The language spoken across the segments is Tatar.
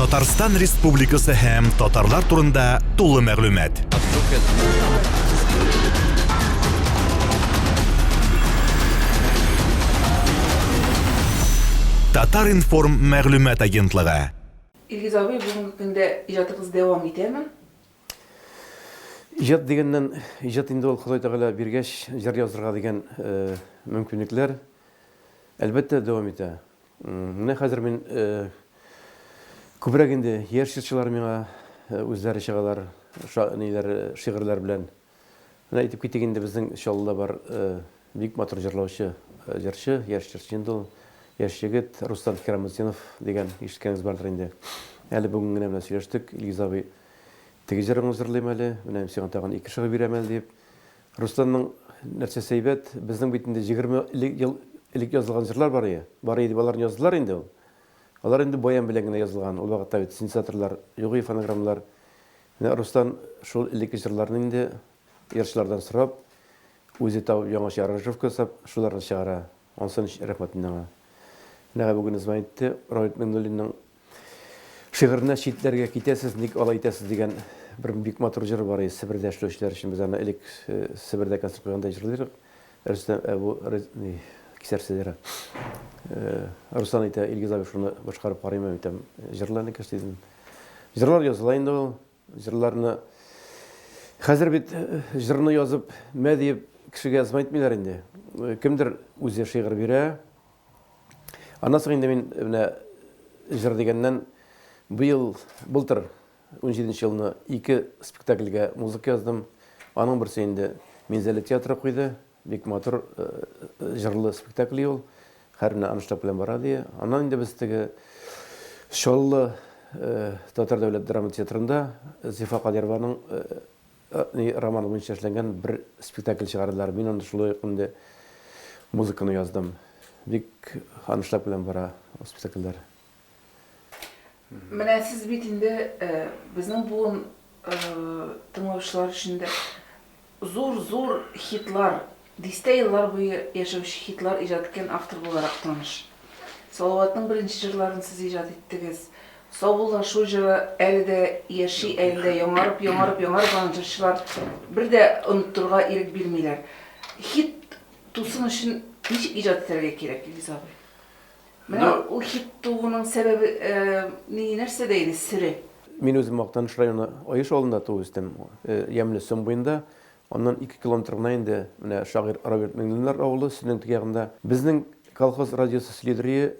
Татарстан Республикасы һәм татарлар турында тулы мәгълүмат. Татар-информ мәгълүмат агентлыгы. Илгиз абый, бүгенге көндә иҗатыгыз дәвам итәме? Иҗат дигәннән, иҗат инде ул Ходай Тәгалә биргәч, җыр язырга дигән мөмкинлекләр, әлбәттә, дәвам итә. Менә хәзер мин күбрәк инде яшь җырчылар миңа үзләре чыгалар, ниләр, шигырьләр белән. Менә әйтеп китик инде, безнең Чаллыда бар бик матур җырлаучы җырчы, яшь җырчы инде ул, яшь егет Рустам Хирамутдинов дигән, ишеткәнегез бардыр инде. Әле бүген генә белән сөйләштек, Илгиз абый, теге җырыңны җырлыйм әле, менә мин сиңа тагын ике шигырь бирәм әле, дип. Рөстәмнең нәрсәсе әйбәт, безнең бит инде егерме элек ел элек язылган җырлар бар ие, бар ие дип аларны яздылар инде ул. Алар инде баян белән генә язылган, ул вакытта бит синтезаторлар юк ие фонограммалар. Менә Рустам шул элекке җырларны инде җырчылардан сорап, үзе табып яңача аранжировка ясап, шуларны чыгара. Ансы ничек рәхмәт инде аңа. Нәкъ бу көнне звонит итте, Равит Миңнуллинның шигыренә читләргә китәсез, ник алай итәсез дигән бер бик матур җыры бар иде, Себердә эшләүчеләр өчен. Без аны элек Себердә концерт куйганда җырлыйдык. Рөстәм, ә бу кисәрсез җыры. Руслан әйтә, Илгиз абый шуны башкарып карыймы, әйтәм, җырла, энекәш, дидем. Җырлар языла инде ул. Җырларны Хәзер бит җырны язып, мә диеп кешегә язма әйтмиләр инде. Кемдер үзе шигырь бирә. Аннан соң инде мин менә җыр дигәннән быел былтыр 17 нче елны ике спектакльгә музыка яздым. Аның берсе инде Минзәлә театры куйды. Бик матур җырлы спектакль ул. Хәрмне анышлап белән бара, ди. Аннан инде без теге Чаллы татар дәүләт драма театрында Зифа Кадированың романы буенча эшләнгән бер спектакль чыгардылар. Мин анда шулай ук инде музыканы яздым. Бик анышлап белән бара ул спектакльләр. Менә сез бит инде безнең буын тыңлаучылар өчен дә зур-зур хитлар, дистә еллар буе яшәүче хитлар иҗат иткән автор буларак таныш. Салаватның беренче җырларын сез иҗат иттегез. Саубуллашу җыры әле дә яши, әле дә яңарып, яңарып, яңарып аны җырчылар бер дә оныттырга ирек бирмиләр. Хит тусын өчен ничек иҗат итәргә кирәк, Илгиз абый? Менә ул хит тууның сәбәбе ние, нәрсәдә иде, сере? Мин үзем Актаныш районы Аеш авылында туып үстем, Ямьле Сон буенда. Аннан ике километр гына инде менә шагыйрь Роберт Миңнуллиннар авылы, Сөннең теге ягында. Безнең колхоз радиосы следрие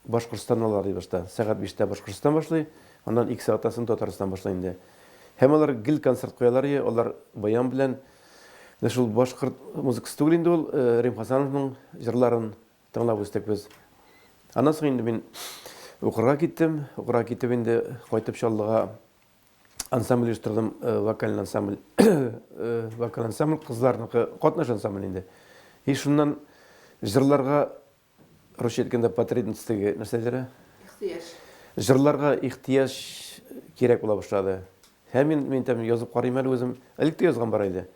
Башкортстаннан алар ди башта. Сәгать биштә Башкортстан башлый, аннан ике сәгатьтән соң Татарстан башлый инде. Һәм алар гел концерт куялар ие, алар баян белән. Менә шул башкорт музыкасы түгел инде ул, Рим Хасановның җырларын Тыңлап үстек без. Аннан соң инде мин укырга киттем. Укырга китеп инде кайтып Чаллыга ансамбль оештырдым, вокаль ансамбль. Вокаль ансамбль кызларныкы, катнаш ансамбль инде. И шуннан җырларга русча әйткәндә потребность теге нәрсәләре? Ихтыяҗ. Җырларга ихтыяҗ кирәк була башлады. Һәм мин мин тәм язып карыйм әле үзем. Элек тә язган бар иде.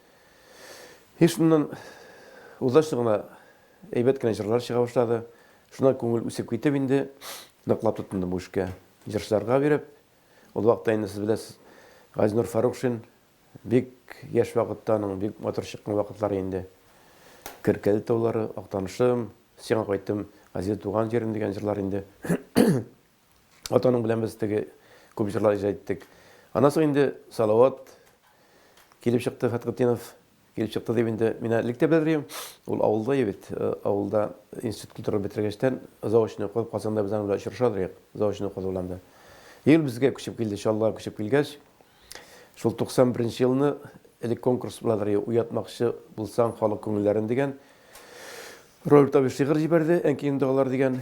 И шуннан удачно гына Әйбәт кенә җырлар чыга башлады. Шуннан күңел үсеп китеп инде, ныклап тотындым бу эшкә. Җырчыларга биреп, ул вакытта инде сез беләсез, Газинур Фарукшин бик яшь вакытта аның бик матур чыккан вакытлары инде. Керкәле таулары, Актанышым, Сиңа кайттым, Газиз туган җирем дигән җырлар инде. Атаның белән без теге күп җырлар иҗат иттек. Аннан соң инде Салават килеп чыкты, Фәтхетдинов килеп чыкты дип инде мин әле тә белдерим. Ул авылда ебет, э, авылда институт культура бетергәчтән заочный укып, Казанда без аның белән очрашабыз идек, заочный укып белән дә. И ул безгә күчеп килде, Чаллыга күчеп килгәч, шул 91 елны элек конкурс була дия, уятмакчы булсаң халык күңелләрен дигән Роберт абый шигырь җибәрде, Әнкием догалар дигән.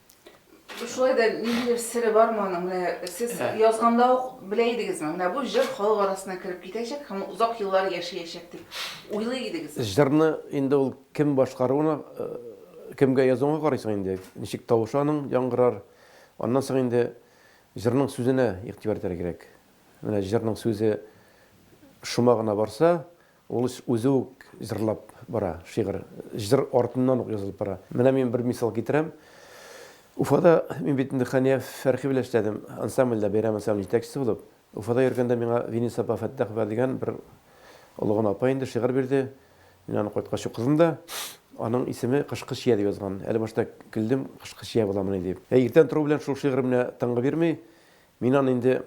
Шулай да ниндидер сере бар моның. Менә сез язганда ук белә идегезме? Менә бу җыр халык арасына кереп китәчәк һәм озак еллар яшәячәк дип уйлый идегезме? Җырны инде ул кем башкаруына, кемгә язуыңа карыйсың инде. Ничек тавышы аның яңгырар. Аннан соң инде җырның сүзенә игътибар итәргә кирәк. Менә җырның сүзе шома гына барса, Ул үзе үк җырлап бара, шигырь, җыр артыннан ук язылып бара. Менә мин бер мисал китерәм. Уфада, мин бит инде Хания Фәрхи белән эшләдем, ансамбльдә, бәйрәм ансамбле җитәкчесе булып. Уфада йөргәндә миңа Винис апа Фәттахова дигән бер олы гына апа инде шигырь бирде. Мин аны кайткач укыдым да. Аның исеме Кышкы чия дип язган. Әле башта көлдем, кышкы чия буламыни дип. Ә иртән тору белән шул шигырь менә тынгы бирми. Мин аны инде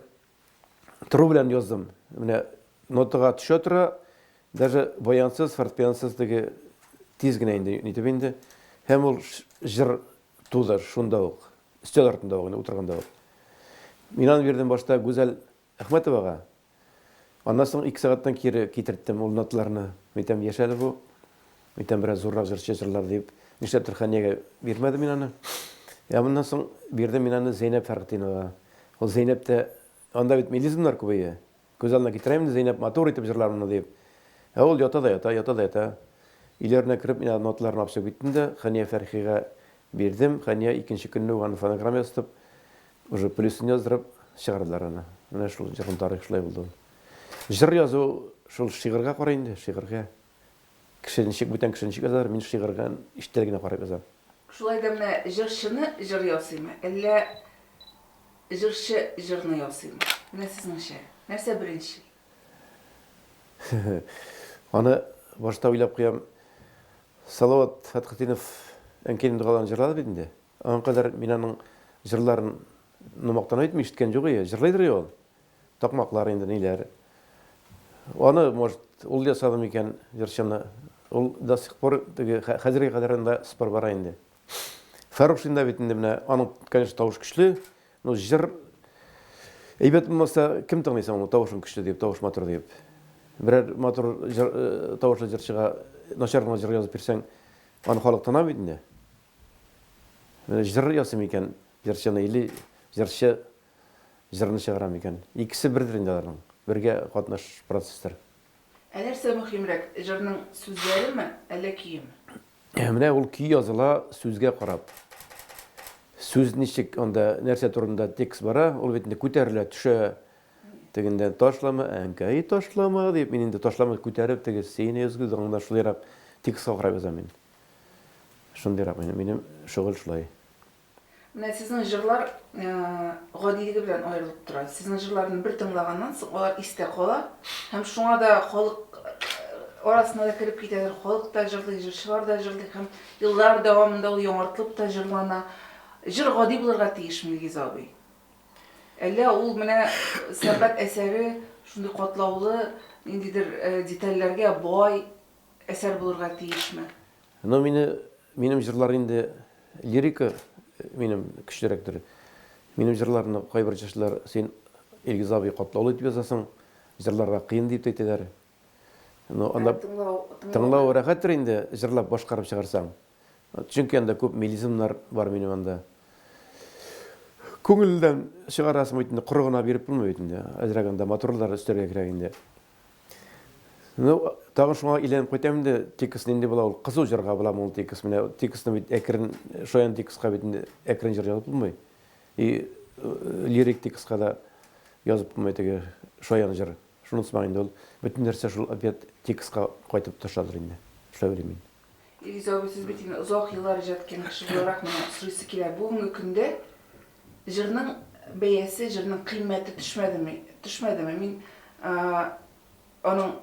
Тру белән яздым. Менә нотага төшә тора, даже баянсыз, фортепиансыз теге тиз генә инде нитеп инде. Һәм ул җыр туды шунда ук, өстәл артында ук, утырганда ук. Мин аны бирдем башта Гүзәл Әхмәтовага. Аннан соң ике сәгатьтән кире китерттем ул нотларны. Әйтәм, яшәде бу. Бүтән бераз зуррак җырчы җырлар дип, нишләптер Хәниягә бирмәдем мин аны. Ә моннан соң бирдем мин аны Зәйнәп Фәргтиновага. Ул Зәйнәп тә, анда бит мелизмнар күбәя. Күз алдына китерәм инде, Зәйнәп матур итеп җырлар моны диеп. Ә ул ята да ята, ята да ята. Өйләренә кереп, мин ноталарны алып чыгып киттем дә, Хәния Фәрхигә бирдем. Хәния икенче көнне үк аны фонограмма ясатып, уже плюсын яздырып чыгардылар аны. Менә шул җырның тарихы шулай булды ул. Җыр язу шул шигырьгә карый инде, шигырьгә. Кеше ничек, бүтән кеше ничек язар, мин шигырьгә иштән генә карап язам. Шулай да менә җырчыны җыр ясыймы, әллә җырчы җырны ясыймы? Менә сезнеңчә, нәрсә беренчел? Аны башта уйлап куям. Салават Фәтхетдинов Әнкәйнең догаларын җырлады бит инде. Аңа кадәр мин аның җырларын мактанып әйтмим, ишеткән юк ие. Җырлыйдыр ие ул. Такмаклар инде ниләр. Аны, может, ул ясады микән, җырчыны. Ул до сих пор теге хәзергә кадәр анда спор бара инде. Фәрушин да бит инде менә аның, конечно, тавыш көчле, но җыр әйбәт булмаса, кем тыңлый соң аны тавышың көчле дип, тавыш матур дип. Берәр матур җыр, тавышлы җырчыга начар гына җыр язып бирсәң, аны халык тына бит инде. Җыр ясый микән җырчыны или җырчы җырны чыгарам икән. Икесе бердер инде аларның, бергә катнаш процесслар. Ә нәрсә мөһимрәк, җырның сүзләреме, әллә көеме? Менә ул көй языла сүзгә карап. Сүз ничек анда, нәрсә турында текст бара, ул бит инде күтәрелә, төшә. Тегендә ташлама, әнкәй, ташлама, дип, мин инде ташлама күтәреп, теге сине өзгез аңда шулайрак текстка карап язам мин. Шундыйрак минем, минем шөгыль шулай. Менә сезнең җырлар гадилеге белән аерылып тора. Сезнең җырларны бер тыңлаганнан соң алар истә кала һәм шуңа да халык арасына да кереп китәдер. Халык та җырлый, җырчылар да җырлый һәм еллар дәвамында ул яңартылып та җырлана. Җыр гади булырга тиешме, Илгиз абый? Әллә ул менә сәнгать әсәре шундый катлаулы, ниндидер детальләргә бай, әсәр булырга тиешме? Ну мине, минем җырлар инде лирика минем көчлерәктер. Минем җырларны кайбер җырчылар син Илгиз абый катлаулы итеп язасың, җырларга кыен дип әйтәләр. Ну анда тыңлау рәхәттер инде җырлап башкарып чыгарсаң. Чөнки анда күп мелизмнар бар минем анда. Күңелдән чыгарасың бит инде, коры гына биреп булмый бит инде. Әзрәк анда матурлар өстәргә кирәк инде. Ну, тагын шуңа әйләнеп кайтам инде, текст нинди була ул? Кызу җырга буламы ул текст? Менә текстны бит әкрен, шаян текстка бит инде әкрен җыр язып булмый. И э, лирик текстка да язып булмый теге шаян җыр. Шунысы бар инде ул. Бөтен нәрсә шул опять текстка кайтып төшәдер инде. Эшләп йөрим мин. Илгиз абый, сез бит инде озак еллар иҗат иткән кеше буларак, менә сорыйсы килә. Бүгенге көндә Җырның бәясе, җырның кыйммәте төшмәдеме? Төшмәдеме? Мин аның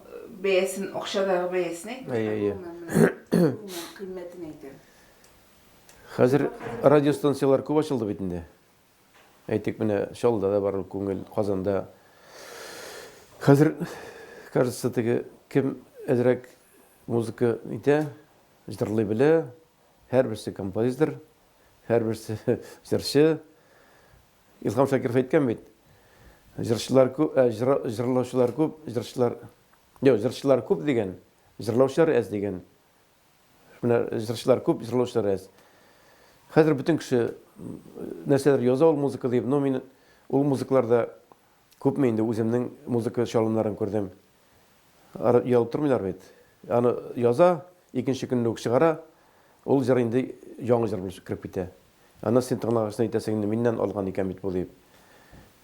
бәясен, акчадагы бәясен әйтмим, ә гомумән кыйммәтен әйтәм. Хәзер радиостанцияләр күп ачылды бит инде. Әйтик, менә Чаллыда да бар күңел, Казанда. Хәзер, кажется, теге кем әзрәк музыка итә, җырлый белә, Һәрберсе композитор, һәрберсе җырчы. Илһам Шакиров әйткән бит, җырчылар күп, ә җырлаучылар күп, җырчылар... Юк, җырчылар күп дигән, җырлаучылар әз дигән. Менә җырчылар күп, җырлаучылар әз. Хәзер бөтен кеше нәрсәдер яза ул музыка дип, но мин ул музыкаларда күпме инде үземнең музыка чалымнарын күрдем. Ары язып тормыйлар бит. Аны яза, икенче көнне үк чыгара. Ул җыр инде яңа җыр булып кереп китә. Аны син тыңлагачтын әйтәсең инде, миннән алган икән бит бу дип.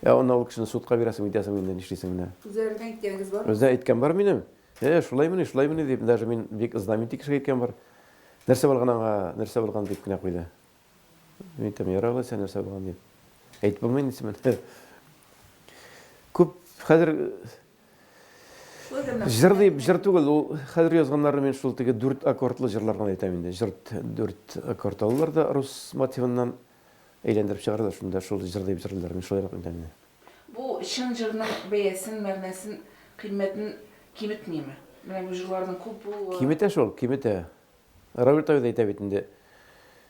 Ә аны ул кешене судка бирәсең әйтәсең инде, нишлисең менә. Үзләренең әйткәнегез бармы? Үзләренең әйткән бар минем. Э, шулаймыни, шулаймыни дип, даже мин бик знаменитый кешегә әйткән бар. Нәрсә булган аңа, нәрсә булган дип кенә куйды. Мин әйтәм, ярар алайса, нәрсә булган дип. Әйтеп булмый инде син. Күп хәзер Җыр дип, җыр түгел, ул хәзер язганнары мин шул теге дүрт аккордлы җырлар гына әйтәм инде. Җыр дүрт аккорд алалар да рус мотивыннан әйләндереп чыгаралар, шунда шул җыр дип җырлыйлар, мин шулайрак әйтәм инде. Бу чын җырның бәясен, мәгънәсен, кыйммәтен киметмиме? Менә бу җырларның күп булуы. Киметә шул, киметә. Равил Тагил әйтә бит инде,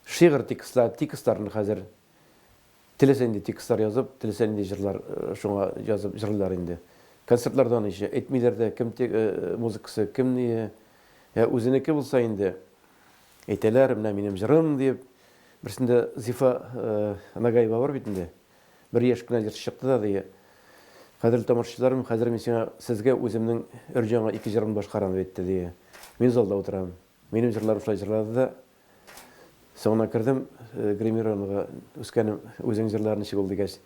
шигырь текстларын хәзер Теләсә нинди текстлар язып, теләсә нинди җырлар шуңа язып җырлыйлар инде. Концертларда аны ещё әйтмиләр дә, кем те музыкасы, кем ние. Ә үзенеке булса инде, әйтәләр, менә минем җырым, диеп. Берсендә Зифа Нагаева бар бит инде. Бер яшь кенә җырчы чыкты да, ди, Кадерле тамашачыларым, хәзер мин сиңа, сезгә үземнең өр-җанга ике җырымны башкарам, дип әйтте, ди. Мин залда утырам. Минем җырларым шулай җырлады да, Соңыннан кердем гримированиега, үскәнем, үзең җырла ничек ул дигәч,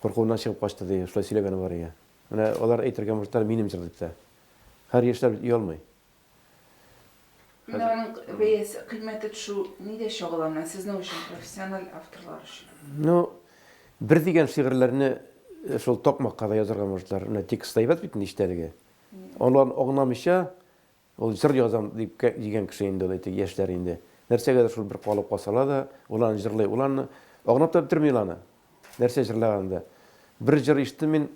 куркуыннан чыгып качты, ди, шулай сөйләгәне бар иде. Менә алар әйтергә мохтар, минем җыр дип тә. Хәер, яшьләр бит оялмый. Менә аның бәясе, кыйммәте төшү нидә чагыла менә сезнең өчен, профессиональ авторлар өчен? Ну, бер дигән шигырьләрне шул такмакка да язарга мохтар. Менә текст әйбәт бит инде, иштәлеге. Анлан аңламыйча, Ул җыр язам дип кә дигән кеше инде ул әйтик, яшьләр инде. Нәрсәгәдер шул бер калып калсалар да, ул аны җырлый. Ул аны агынып та бетерми ул аны. Нәрсә җырлаганын да. Бер җыр ишеттем мин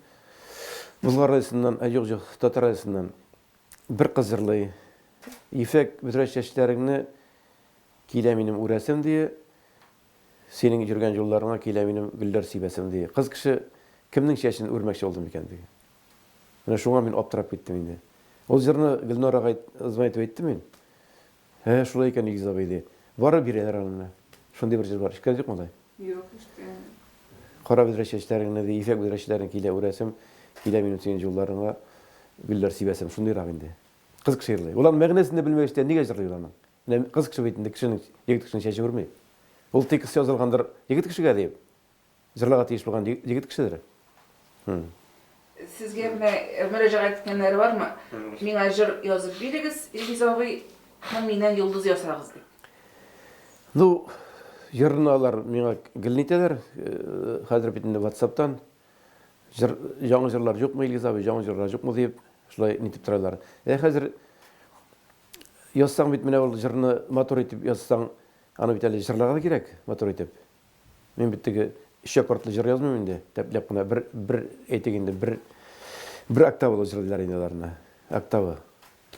Болгар радиосыннан, ә юк, җук, Татар радиосыннан. Бер кыз җырлый. Ефәк бөдрә чәчләреңне Килә минем үрәсем, ди, Синең йөргән юлларыңа Килә минем гөлләр сибәсем, ди. Кыз кеше кемнең чәчен үрмәкче булды микән, ди? Менә шуңа мин аптырап киттем инде. Ул җырны Гөлнарага ызма итеп әйттем мин. Ә, шулай икән, Илгиз абый, ди. Барып бирәләр аны менә. Шундый бер җыр бар. Ишеткән юкмы алай? Юк, ишеткәнем юк. Кара бөдрә чәчләреңне, ди, ефәк бөдрә чәчләреңне килә үрәсем, килә минем сөен җулларыңа гөлләр сибәсем. Шундыйрак инде. Кыз кеше җырлый. Ул аның мәгънәсен дә белмәгәч тә нигә җырлый ул аны? Менә кыз кеше бит инде кешенең, егет кешенең чәче үрми. Ул текст язылгандыр егет кешегә диеп. Җырларга тиеш булган егет кешедер. Хм. Сезгә менә мөрәҗәгать иткәннәре бармы? Миңа җыр язып бирегез, Илгиз абый, һәм миннән йолдыз ясагыз дип. Ну, җырны алар миңа гелни итәләр. Хәзер бит инде WhatsApp-тан җыр, яңа җырлар юкмы, Илгиз абый, яңа җырлар юкмы дип, шулай нитеп торалар. Ә хәзер язсаң бит менә ул җырны матур итеп язсаң, аны бит әле җырларга да кирәк, матур итеп. Мин бит теге өч аккордлы җыр язмыйм инде. Тәпләп кына бер бер әйтик инде, бер бер октавалы җырлыйлар инде аларны. Октавы.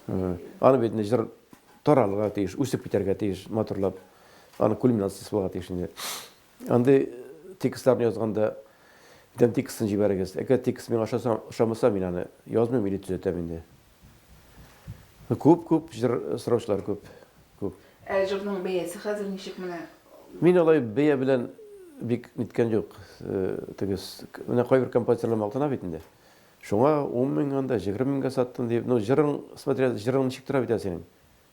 Аны бит инде җыр таралырга тиеш, үсеп китәргә тиеш, матурлап. Аны кульминациясе булырга тиеш инде. Андый текстларны язганда идән текстын җибәрегез. Әгәр текст миңа ошаса, ошамаса, мин аны язмыйм или төзәтәм инде. Күп, күп җыр сораучылар күп, күп. Ә җырның бәясе хәзер ничек менә? Мин алай бәя белән бик ниткән юк. Теге менә кайбер композиторлар мактана бит инде. Шуңа 10 мең анда, 20 меңгә саттым дип. Ну, җырың, смотря җырың ничек тора бит синең.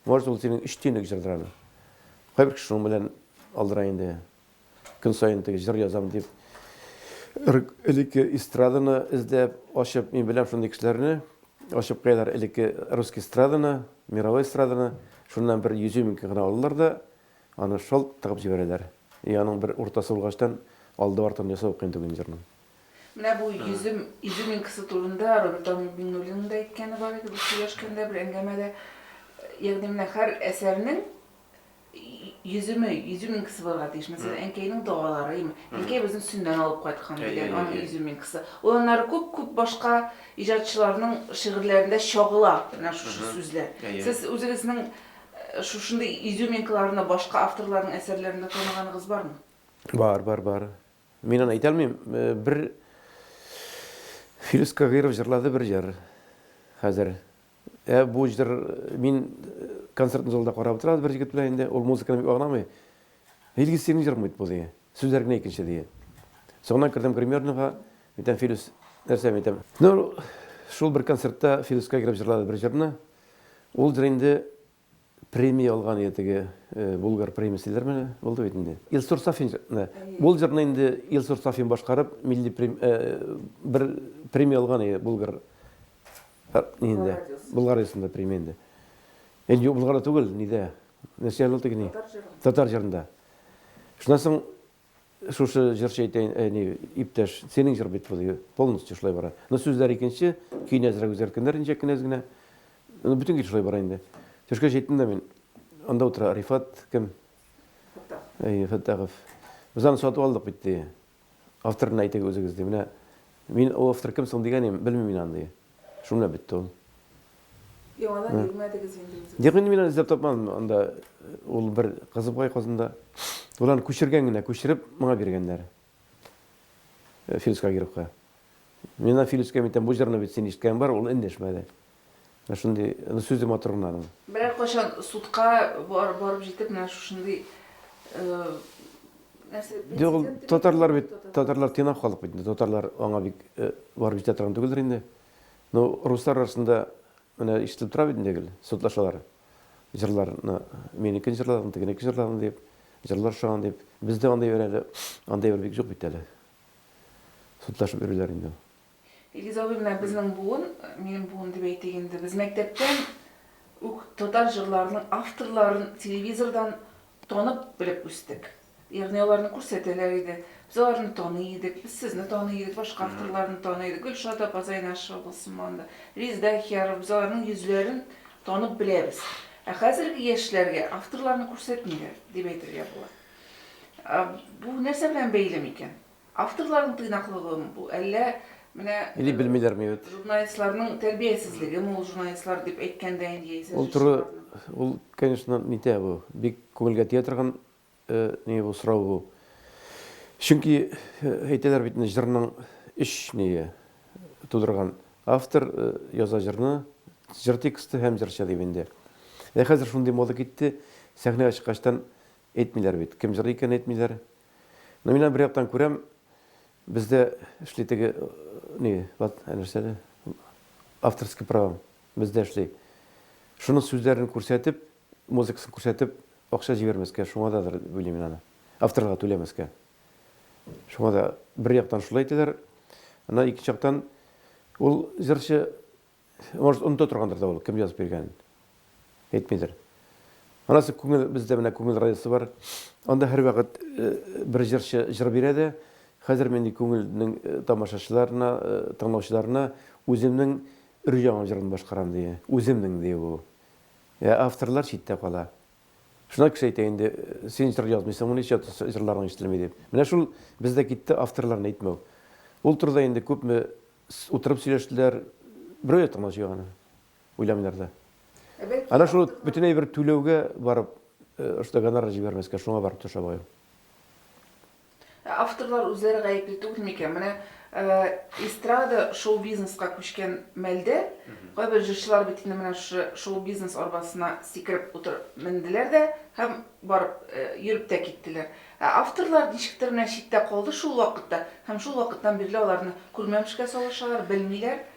Может, ул синең өч тиенлек җырдыр аны. Кайбер кеше шуның белән алдыра инде. Көн саен теге җыр язам дип, элекке эстраданы эзләп, ачып, мин беләм шундый кешеләрне, ачып куялар элекке русский эстраданы, мировой эстраданы, шуннан бер йөз мең гына алалар да, аны шалт тыгып җибәрәләр. И аның бер уртасы булгачтан, алды-артын ясау кыен түгел инде җырның. Менә бу йөз меңкасы турында Рабита Миңнуллинаның да әйткәне бар иде, без сөйләшкәндә бер әңгәмәдә, ягъни менә һәр әсәрнең Йөземе, йөземинкасы булырга тиешме? Сез әнкәйнең догаларыймы? Әнкәй безне сөннән алып кайткан дигән аның йөземинкасы. Ул аннары күп-күп башка иҗатчыларның шигырьләрендә чагыла, менә шушы сүзләр. Сез үзегезнең шушындый йөземинкаларны башка авторларның әсәрләрендә таныганыгыз бармы? Бар, бар, бар. Мин аны әйтә алмыйм. Бер Филүс Кагыйров җырлады бер җыр. Хәзер Ә бу җыр мин концертный залда карап утырабыз бер җегет белән инде, ул музыканы бик аңламый. Илгиз синең җырың бит бу ди. Сүзләр генә икенче ди. Соңыннан кердем гримерныйга, әйтәм Филүс, нәрсә мин әйтәм. Ну, шул бер концертта Филүскә кереп җырлады бер җырны. Ул җыр инде Премия алган иде теге Булгар премиясе диләр менә, булды бит инде. Илсур Сафин, ул җырны инде Илсур Сафин башкарып, милли бер премия алган иде Булгар инде. Булгар радиосында премия инде. Инде Булгарда түгел, нидә? Нәрсә алды икән? Татар җырында. Татар җырында. Шуннан соң Шушы җырчы әйтәйен, әни, иптәш, синең җыр бит бу, полностью шулай бара. Но сүзләр икенче, көйне әзрәк үзгәрткәннәр инде кенәз генә. Ну, бөтен гел шулай бара инде. Төшкә җиттем дә мин. Анда утыра Рифат кем? Фәттахов. Әйе, Фәттахов. Без аны сатып алдык бит, ди. Авторны әйтегез үзегез, ди. Менә мин, ул автор кем соң дигән идем, белмим мин аны, ди. Шуны белән бетте ул. Яңадан Ә. йөрмәдегез инде үзегез. Юк, инде мин аны эзләп тапмадым. Анда э, ул бер кызы бар Казанда. Ул аны күчергән генә, күчереп моңа биргәннәр. Э, Филис Кагировка. Мин ана Филискә әйтәм, бу җырны бит син ишеткән бар, ул эндәшмәде. Менә шундый, аны сүзе матур гына аның. Берәр кайчан судка бар, барып җитеп менә шушындый э, Нәрсә? Юк, татарлар бит, татарлар тыйнак халык бит. Татарлар аңа бик э, барып җитә торган түгелдер инде. Ну, руслар арасында менә ишетелеп тора бит инде гел, судлашалар. Җырларны, минекен җырлагын, тегенеке җырлагын дип, җырлар шаган дип. Бездә андый бер әле, андый бер бик юк бит әле. Судлашып йөриләр инде. Илгизова менә безнең буын, минем буын дип әйтик инде, без мәктәптән үк татар җырларының авторларын телевизордан танып белеп үстек. Ягъни аларны күрсәтәләр иде, без аларны таный идек, без сезне таный идек, башка авторларны таный идек, Гөлшат апа Зайнашева булсын монда, Резда Әхиярова, без аларның йөзләрен танып беләбез. Ә хәзерге яшьләргә авторларны күрсәтмиләр, дип әйтергә була. Бу нәрсә белән бәйле микән? Авторларның тыйнаклыгымы бу, әллә менә Или белмиләрме, егет? журналистларның тәрбиясезлегеме ул журналистлар дип әйткәндә инде яисә Ул туры, җырчыларның? ул, конечно, нитә бу, бик күңелгә тия торган ни бу, сорау бу. Чөнки әйтәләр бит инде, җырның өч ние тудырган. Автор яза җырны, җыр тексты һәм җырчы дип инде. Ә хәзер шундый мода китте, сәхнәгә чыккачтан Әйтмиләр бит, кем җырлый икән, әйтмиләр. Но мин аны бер яктан күрәм, бездә эшли теге, ни, вот, ә нәрсә әле, авторский правам, бездә эшли. Шуның сүзләрен күрсәтеп, музыкасын күрсәтеп, акча җибәрмәскә, шуңа дадыр, дип уйлыйм мин аны. Авторга түләмәскә. Шуңа да бер яктан шулай әйтәләр, аннан икенче яктан, ул җырчы Может, оныта торгандыр да ул, кем язып биргәнен. Әйтмидер. Анасы күңел, бездә менә күңел радиосы бар. Анда һәрвакыт э, бер җырчы җыр бирә дә, хәзер мин күңелнең э, тамашачыларына, э, тыңлаучыларына үземнең өр-яңа җырын башкарам ди. Үземнең ди ул. Ә авторлар читтә кала. Шуна кеше әйтә инде, син җыр язмыйсыңмы, ничә җырларың ишетелми дип. Менә шул Без дә китте авторларын әйтмәү. Ул турыда инде күпме утырып сөйләштеләр, берәү дә тыңламыйча аны, уйламыйлар да. Әнә шул бөтенләй бер түләүгә барып, шундый гонорар җибәрмәскә, шуңа барып төшә баю. Ә авторлар үзләре гаепле түгел микән? Менә эстрада шоу-бизнеска күчкән мәлдә, кайбер җырчылар бит инде менә шушы шоу-бизнес арбасына сикереп утыр менделәр дә һәм барып, йөреп тә киттеләр. Ә авторлар ничектер менә читтә калды шул вакытта һәм шул вакыттан бирле аларны күрмәмешкә салышалар, белмиләр.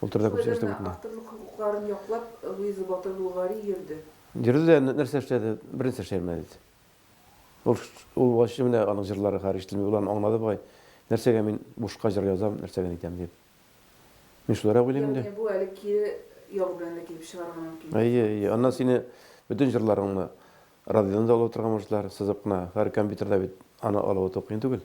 Ул турыда күп сөйләштек бит инде. Авторлык хокукларын яклап Луиза Батыр Булгари йөрде. Йөрде дә нәрсә эшләде? Бернәрсә эшли алмады бит. Ул ул вачы менә аның җырлары хәер ишетелми. Ул аны аңлады бугай. Нәрсәгә мин бушка җыр язам, нәрсәгә нитәм дип. Мин шулайрак уйлыйм инде. Ягъни бу әле кире ял белән дә килеп чыгарга мөмкин. Әйе, әйе. Аннан сине бөтен җырларыңны радиодан да алып утырырга мөмкиннәр, сызып кына. Хәер, компьютерда бит аны алып утыру кыен түгел.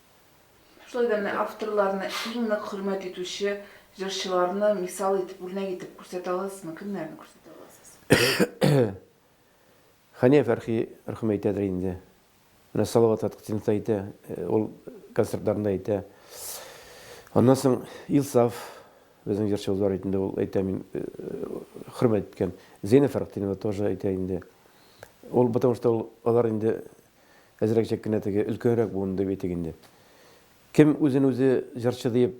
Шулай да менә авторларны иң нык хөрмәт итүче җырчыларны мисал итеп, үрнәк итеп күрсәтә аласызмы? Кемнәрне күрсәтә аласыз? Хания Фәрхи рхм әйтәдер инде. Менә Салават Фәтхетдинов та әйтә, ул концертларында әйтә. Аннан соң Илсаф безнең җырчыбыз бар инде, ул әйтә, мин хөрмәт иткән. Зәйнәб Фәрхетдинова тоже әйтә инде. Ул, потому что ул алар инде Әзрәкчәк кенә теге өлкәнрәк буын дип әйтик инде. Кем үзен үзе җырчы диеп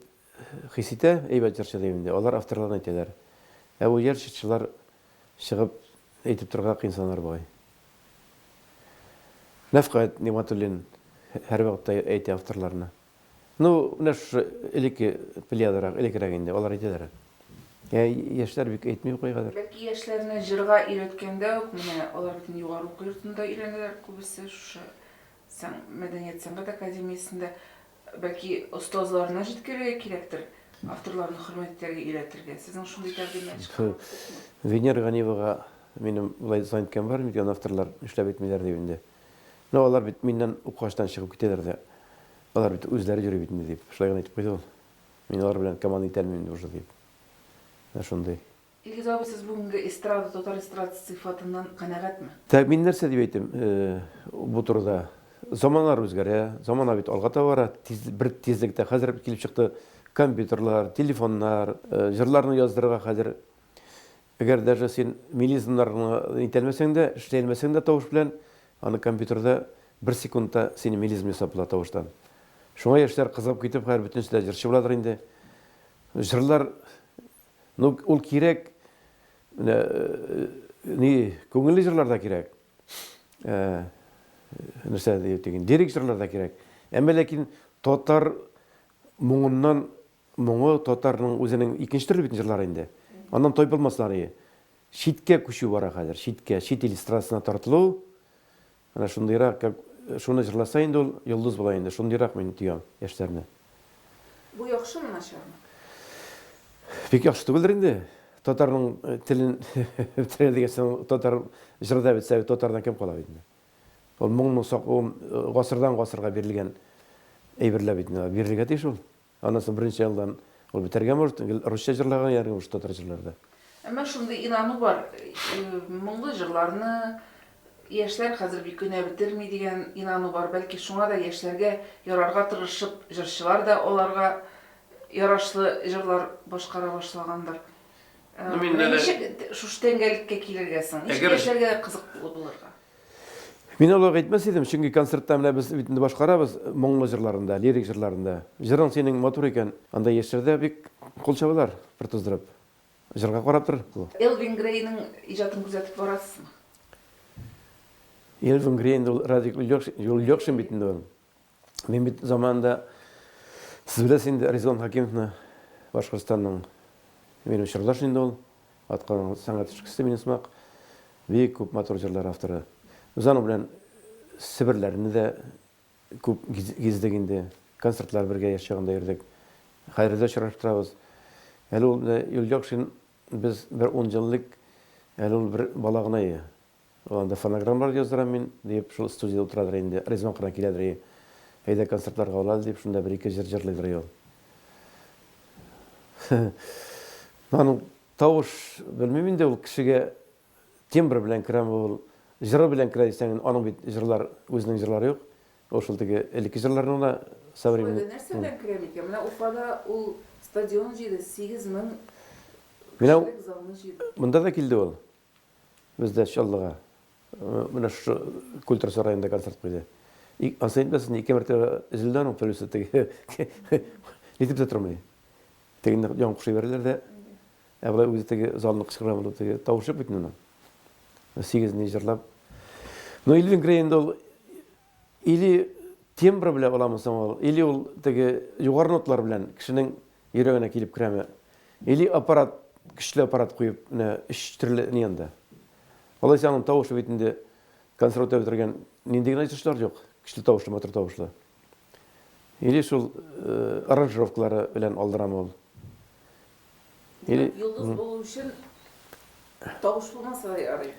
хис итә, әйбәт җырчы дип инде, алар авторларны әйтәләр. Ә бу җыр чырчылар чыгып әйтеп торырга кыенсынар бугай. Нәфкать Нигъмәтуллин һәрвакытта әйтә авторларны. Ну, менә шушы элекке плеядарак, элеккерәк инде, алар әйтәләр. Ә яшьләр бик әйтми укый хәзер. Бәлки яшьләрне җырга өйрәткәндә үк, менә алар бит инде югары уку йортында өйрәнәләр күбесе, шушы мәдәният-сәнгать академиясендә. Бәлки остазларына җиткерергә кирәктер, авторларны хөрмәт итәргә өйрәтергә. Сезнең шундый тәкъдимнәр чыгарасызмы? Венера Ганиевага минем болай звонить иткән бар, ник аны авторлар нишләп әйтмиләр дип инде. Ну, алар бит миннән укыгачтан чыгып китәләр дә. Алар бит үзләре йөри бит инде, дип, шулай гына әйтеп куйды ул. Мин алар белән команда итә алмыйм инде уже, дип. Менә шундый. Илгиз абый, сез бүгенге эстрада, татар эстрадасы сыйфатыннан канәгатьме? Тә, мин нәрсә дип әйтим, бу турыда. Заманалар үзгәрә, замана бит алга таба бара, тиз, бер тизлектә. Хәзер килеп чыкты компьютерлар, телефоннар, җырларны яздырырга хәзер Әгәр даже син мелизмнарны итәлмәсәң дә, эшләлмәсәң дә тавыш белән, аны компьютерда бер секундта сине мелизм ясап була тавыштан. Шуңа яшьләр кызыгып китеп, хәзер бөтенесе дә җырчы буладыр инде. Җырлар, ну, ул кирәк, менә, ни, күңелле җырлар да кирәк. Нәрсә дип әйтик, лирик җырлар да кирәк. Әмма ләкин татар моңыннан Моңы татарның үзенең икенче төрле бит җырлары инде. Аннан тайпылмаслар ие. Читкә күчү бара хәзер, читкә, чит ил эстрадасына тартылу. Менә шундыйрак, как шуны җырласа инде ул йолдыз була инде. Шундыйрак мин тоям яшьләрне. Бу яхшымы, начармы? Бик яхшы түгелдер инде. Татарның телен бетерә дигән соң татар җыры да бетсә, татардан кем кала бит инде. Ул моңның сак, ул гасырдан гасырга бирелгән әйберләр бит инде, бирелергә тиеш ул. Аннан соң беренче ялдан ул бетәргә может, гел русча җырлаган ягъни уж татар җырларды. Әмма шундый инану бар, моңлы җырларны яшьләр хәзер бик генә бетерми дигән инану бар, бәлки шуңа да яшьләргә ярарга тырышып җырчылар да аларга ярашлы җырлар башкара башлагандыр. Менә ничек шушы тәңгәлеккә килергә соң, ничек яшьләргә кызыклы булырга? Мин олуг әйтмәс идем, чөнки концертта менә без бит инде башкарабыз моңлы җырларын да, лирик җырларын да. Җырың синең матур икән, анда яшьләр дә бик кул чабалар, бер туздырып. Җырга карап тор бу. Элвин Грейның иҗатын күзәтеп барасызмы? Элвин Грей инде ул Радик Юльякшин бит инде ул. Мин бит заманында сез беләсез инде Резон Хакимовны Башкортстанның минем чордаш инде ул. Атканың сәнгать эшкесе минем сымак. Бик күп матур җырлар авторы. Без аның белән Себерләрне дә күп гиздек инде. Концертлар бергә яшь чагында йөрдек. Хәзер дә очрашып торабыз. Әле ул Юльякшин без бер ун җыллык әле ул бер бала гына иде. Анда фонограммалар яздырам мин, диеп, шул студиядә утырадыр инде. Ризван кына киләдер и. Әйдә концертларга ул әле, дип, шунда бер-ике җыр җырлыйдыр и ул. Ну, аның тавыш, белмим инде, ул кешегә тембр белән керәме ул, җыры белән керә дисәң инде, аның бит җырлар, үзенең җырлары юк. Ул шул теге элекке җырларын гына современный. Уфада нәрсә белән керә микән? Менә Уфада ул стадион җыйды, сигез мең кешелек залны җыйды. Менә монда да килде ул. Бездә Чаллыга менә шушы культура сараенда концерт куйды. Ансы әйтмәсен, ике мәртәбә өзелде аның төлесе теге. Нитеп тә тормый. Тегенне яңа кушып җибәрделәр дә, ә болай үзе теге залны кычкыра булды, теге тавышы бит моның. Сигез ни җырлап. Ну, Элвин Грей инде ул Или тембры белән буламы соң ул, или ул теге югары ноталар белән кешенең йөрәгенә килеп керәме? Или аппарат, көчле аппарат куеп, менә өч төрле ни анда. Алайса аның тавышы бит инде консерваториядә бетергән нинди генә җырчылар юк, көчле тавышлы, матур тавышлы. Или шул аранжировкалары белән алдырамы ул? Или... Йолдыз булу өчен тавыш булмаса да ярый,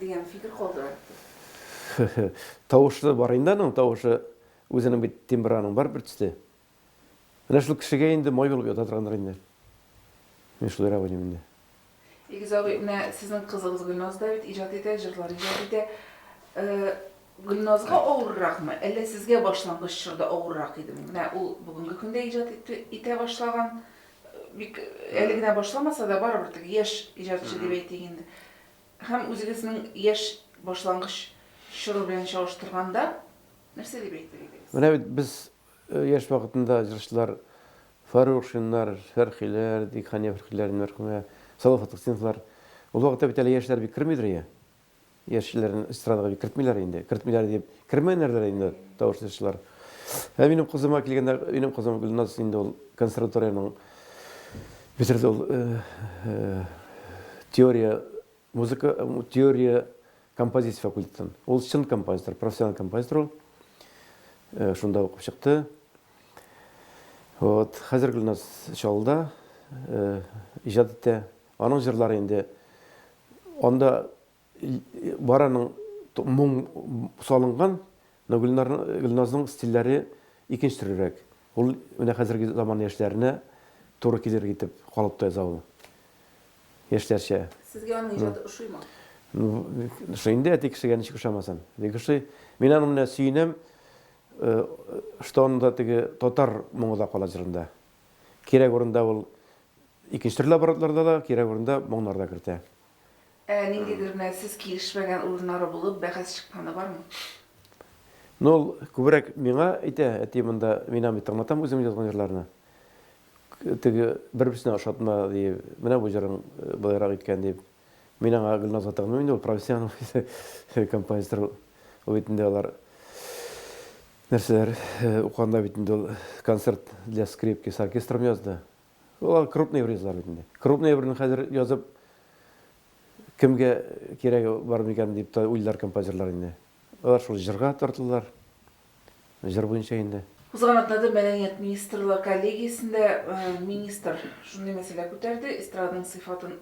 дигән фикер калдырам. Тавышлы бар инде аның тавышы, үзенең бит тембры аның бар бер төсле. Менә шул кешегә инде май булып ята торгандыр инде. Мин шулай рәвә дим инде. Илгиз абый, менә сезнең кызыгыз Гөлназ да бит иҗат итә, җырлар иҗат итә. Гөлназга авырракмы, әллә сезгә башлангыч чорда авыррак идеме? Менә ул бүгенге көндә иҗат итә башлаган. Бик әле генә башламаса да, барыбер теге яшь иҗатчы дип әйтик инде. Һәм үзегезнең яшь башлангыч чоры белән чагыштырганда, нәрсә дип әйтер идегез? Менә бит без яшь вакытында җырчылар Фаррухшиннар, Фәрхиләр, дик Хания Фәрхиләрен, мәрхүмә, Салават Фатхетдиновлар. Ул вакытта бит әле яшьләр бик кермидер, ия? яшьләрен эстрадага бит кертмиләр инде. Кертмиләр дип, кермәгәннәрдер инде тавыш җырчылар. Ә минем кызыма килгәндә, минем кызым Гөлназ инде ул консерваториянең бетерде ул теория музыка, теория композиция факультетын. Ул чын композитор, профессиональ композитор ул. Э, шунда укып чыкты. Вот, хәзер Гөлназ Чалда э, иҗат итә. Аның җырлары инде анда бараның моң салынган, но Гөлнар Гөлназның стильләре икенче төрлерәк. Ул менә хәзерге заман яшьләренә туры килер итеп калыпта яза ул. Яшьләрчә. Сезгә аның иҗаты ошыймы? Ну, ошый инде, әти кешегә ничек ошамасын. Бик ошый. Мин аны менә сөенәм, что анда теге татар моңы да кала җырында. Кирәк урында ул икенче төрле аппаратларда да, кирәк урында моңнар да кертә. Ә ниндидер мәлсез килешмәгән урыннары булып, бәхәс чыкканы бармы? Ну, ул күбрәк миңа әйтә, әти монда мин бит тыңлатам үзем язган җырларны. Теге бер-берсенә ошатма, ди, менә бу җырың былайрак иткән, дип. Мин аңа Гөлназ атамыйм инде, ул профессионал композитор ул. Ул бит инде алар нәрсәләр укыганда бит инде ул концерт для скрипки с оркестром язды. Ул крупный врезлар бит инде. Крупный берне хәзер язып кемгә кирәге бар микән дип тә уйлар композиторлар инде. Алар шул җырга тартылдылар. җыр буенча инде. Узган атнада мәдәният министрлар коллегиясендә министр шундый мәсьәлә күтәрде, эстраданың сыйфатын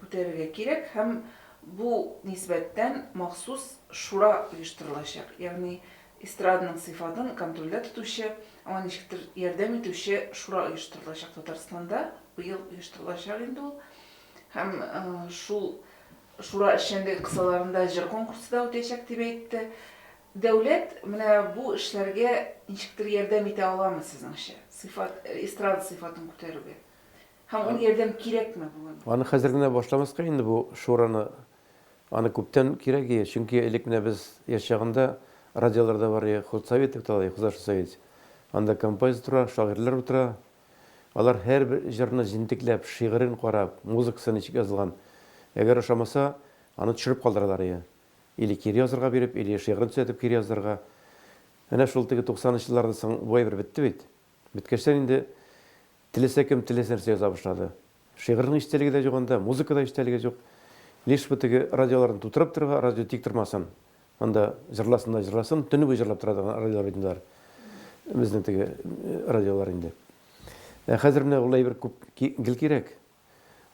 күтәрергә кирәк һәм бу нисбәттән махсус шура оештырылачак, ягъни эстраданың сыйфатын контрольдә тотучы, аңа ничектер ярдәм итүче шура оештырылачак. Татарстанда быел оештырылачак инде ул һәм шул шура эшчәнлеге кысаларында җыр конкурсы да үтәчәк, дип әйтте. Дәүләт менә бу эшләргә ничектер ярдәм итә аламы сезнеңчә? Сыйфат, эстрада сыйфатын күтәрүгә. Һәм ул ярдәм кирәкме бүген? Аны хәзер генә башламаска инде бу шураны. Аны күптән кирәк ие. Чөнки элек менә без яшь чагында радиолар да бар ие, худсовет дип атала ие, хозашсовет. Анда композитор утыра, шагыйрьләр утыра. Алар һәрбер җырны җентекләп, шигырен карап, музыкасы ничек язылган. Әгәр ошамаса, аны төшереп калдыралар ие. Или кире язырга биреп, или шигырен төзәтеп кире яздырырга. Әнә шул теге туксанынчы еллардан соң бу әйбер бетте бит. Беткәчтән инде теләсә кем теләсә нәрсә яза башлады. Шигырьнең эчтәлеге дә юк анда, музыка да эчтәлеге юк. Лишь бы теге радиоларны тутырып торырга, радио тик тормасын. Анда җырласын да җырласын, төне буе җырлап тора торган радиолар бит инде алар. Безнең теге радиолар инде. Ә хәзер менә ул әйбер күп гел кирәк.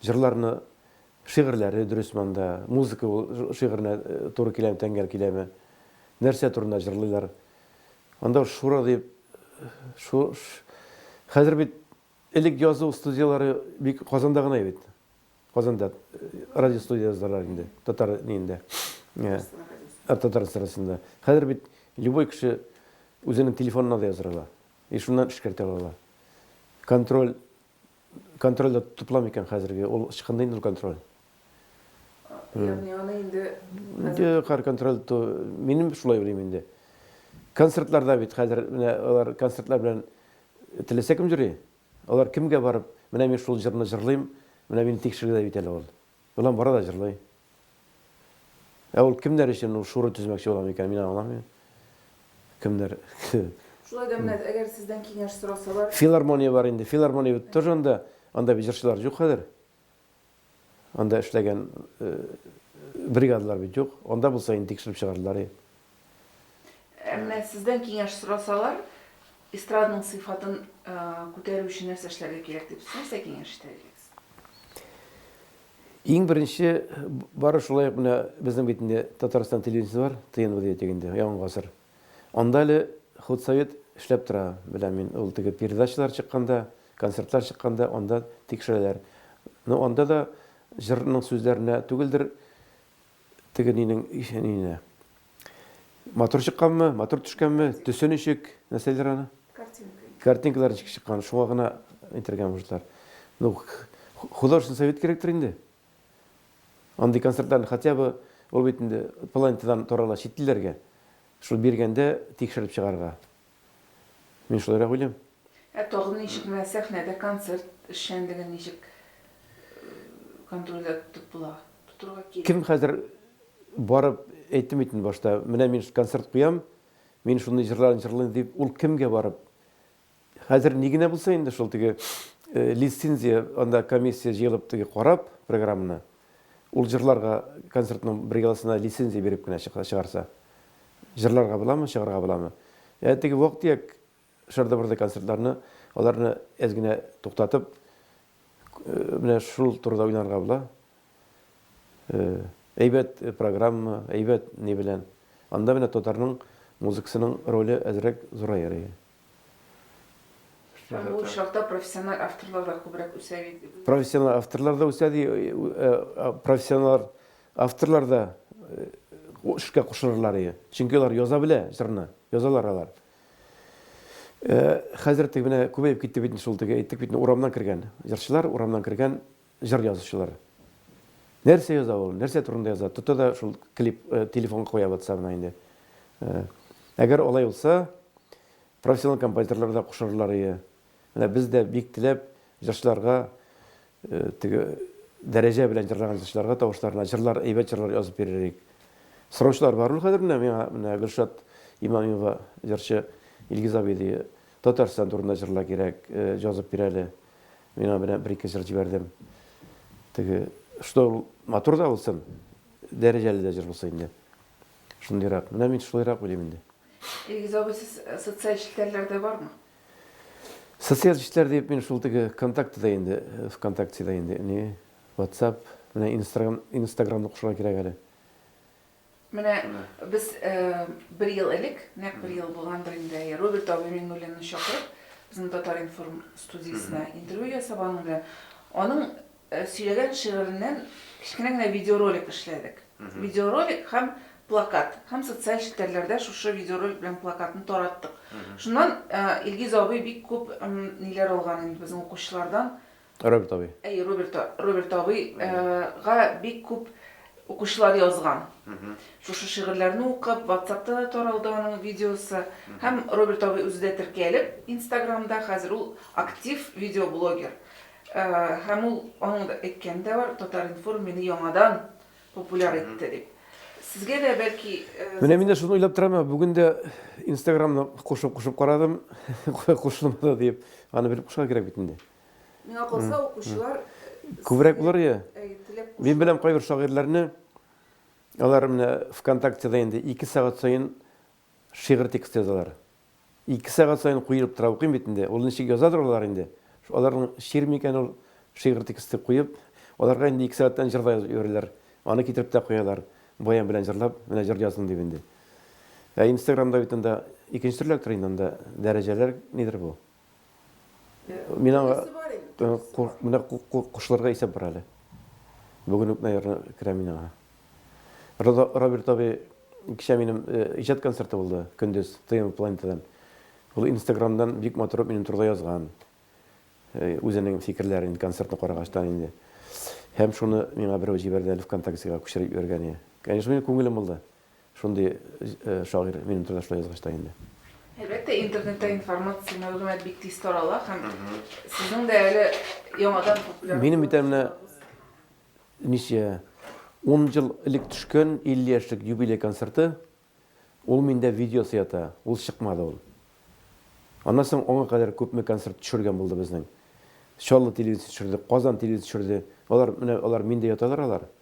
Җырларны, шигырьләре дөрес монда, музыка ул шигыренә туры киләме, тәңгәл киләме, нәрсә турында җырлыйлар. Анда шура дип, шу, хәзер бит элек язу студияләре бик Казанда гына бит. Казанда радио студия яздылар инде, татар ниендә. Татар эстрадасында. Хәзер бит любой кеше үзенең телефонына да яздыра ала. И шуннан эшкәртә ала. Контроль Контрольдә тотыла микән хәзерге? Ул ычкынды инде ул контроль. Ягъни аны инде хәзер контроль ту минем шулай уйлыйм инде. Концертларда бит хәзер менә алар концертлар белән теләсә кем җырлый. Алар кемгә барып, менә мин шул җырны җырлыйм, менә мине тикшергедә бит әле ул. Болан бара да җырлый. Ә ул кемнәр өчен ул шура төзмәкче була микән, мин аңламыйм. Кемнәр? Шулай да менә, әгәр сездән киңәш сорасалар. Филармония бар инде. Филармония бит тоже анда, анда бит җырчылар юк хәзер. Анда эшләгән бригадалар бит юк. Анда булса инде тикшереп чыгардылар, Әмма сездән киңәш сорасалар, эстрадның сыйфатын күтәрү өчен нәрсә эшләргә кирәк дип нәрсә киңәш итәр идегез? Иң беренче бары шулай ук менә безнең бит инде Татарстан телевидениесе бар, ТНВ дияттек инде, яңа гасыр. Анда әле худсовет эшләп тора, беләм мин, ул теге передачалар чыкканда, концертлар чыкканда анда тикшерәләр. Ну анда да җырның сүзләренә түгелдер, Тегенинең исә нине? Матур чыкканмы? Матур төшкәнме? Төсе ничек? Нәрсәләр аны? Картинка. Картинкалар ничек чыккан? Шуңа гына әйтергә мөмкинләр. Ну, художественный совет кирәктер инде. Андый концертларны хотя бы ул бит инде планетадан тарала чит илләргә. Шул биргәндә тикшереп чыгарга. Мин шулайрак уйлыйм. Ә тагын ничек менә сәхнәдә концерт эшчәнлеген ничек контрольдә тотып була? Тотырга кирәк. Кем хәзер барып әйтем итен башта, менә мин концерт куям, мин шундый җырлар җырлыйм дип, ул кемгә барып? Хәзер ни генә булса инде шул теге лицензия анда комиссия җыелып теге карап программаны, Ул җырларга концертның бригадасына лицензия биреп кенә чыгарса. Җырларга буламы, чыгарга буламы? Ә теге вак-төяк шырды-бырды концертларны, аларны әз генә туктатып, менә шул турыда уйланырга була. Әйбәт программа, әйбәт ни белән. Анда менә татарның музыкасының роле әзрәк зурая. Бу очракта профессиональ авторлар да күбрәк үсә бит. Профессиональ авторлар да үсә, ди, профессиональ авторлар да эшкә кушылырлар иде. Чөнки алар яза белә җырны, язалар алар. Хәзер теге менә күбәеп китте бит шул теге әйттек бит, урамнан кергән җырчылар, урамнан кергән Җыр язучылар. Нәрсә яза ул, нәрсә турында яза, тота да шул клип телефонга куя ватсабына инде. Әгәр алай булса, профессионал композиторлар да кушарлар ие. Менә без дә бик теләп җырчыларга теге дәрәҗә белән җырлаган җырчыларга тавышларына җырлар, әйбәт җырлар язып бирер идек. Сораучылар бар ул хәзер менә миңа менә Гөлшат Имамиева җырчы Илгиз абый ди, Татарстан турында җырлар кирәк, җазып бир әле. Мин аңа менә бер-ике җыр җибәрдем. Теге, что матур да булсын, дәрәҗәле дә җыр булсын инде. Шундыйрак. Менә мин шулайрак уйлыйм инде. Илгиз абый, сез социаль челтәрләрдә бармы? Социаль челтәр дип мин шул теге ВКонтактеда инде, ВКонтактеда инде, не, WhatsApp, менә Инстаграм, Инстаграмны кушырга кирәк әле. Менә без бер ел элек, нәкъ бер ел булгандыр инде, әйе, Роберт абый Миңнуллинны чакырып, безнең Татар-информ студиясенә интервью ясап, аның белән аның сөйләгән шигыреннән кечкенә генә видеоролик эшләдек. Видеоролик һәм плакат. Һәм социаль челтәрләрдә шушы видеоролик белән плакатны тараттык. Шуннан Илгиз абый бик күп ниләр алган инде безнең укучылардан. Роберт абый. Әй, Роберт, Роберт абый, э, га бик күп укучылар язган. Шушы шигырьләрне укып, ватсапта да таралды аның видеосы. Һәм Роберт абый үзе дә теркәлеп, инстаграмда, хәзер ул актив видеоблогер. Э, һәм ул, аның да әйткәне дә бар, Татар-информ мине яңадан популяр итте дип. Сезгә дә бәлки... э, Менә мин дә шуны уйлап торам, ә бүген дә инстаграмны кушып-кушып карадым, кушылмады диеп. Аны белеп кушарга кирәк бит инде. Миңа калса, укучылар күбрәк булыр иде. Мин беләм кайбер шагыйрьләрне, алар менә ВКонтактеда инде ике сәгать саен шигырь тексты язалар. Ике сәгать саен куелып тора, укыйм бит инде. Ул ничек язадыр алар инде? Аларның шигырь микән ул? Шигырь тексты куеп, аларга инде ике сәгатьтән җыр да язып йөриләр. Аны китереп тә куялар. Баян белән җырлап, менә җыр яздым дип инде. Ә Инстаграмда бит анда икенче төрлерәк тора инде, анда дәрәҗәләр нидер бу. Мин аңа менә кушларга исәп бар әле. Бүген үк, наверное, керә мин аңа. Роберт абый кичә минем иҗат концерты булды, көндез ТМ планетадан. Ул Инстаграмдан бик матур минем турыда язган. Үзенең фикерләрен концертны карагачтан инде. Һәм шуны миңа берәү җибәрде әле ВКонтактега күчереп җибәргән иде. Конечно, минем күңелем булды. Шундый шагыйрь минем тырнашта язгач та инде. Әлбәттә, интернетта информация, мәгълүмат бик тиз тарала һәм сезнең дә әле яңадан популяр. Минем бит әмнә ничә 10 ел элек төшкән 50 яшьлек юбилей концерты, ул миндә видеосы ята, ул чыкмады ул. Аннан соң аңа кадәр күпме концерт төшергән булды безнең. Чаллы телевидениесе төшерде, Казан телевидениесе төшерде. Алар менә алар миндә яталар алар.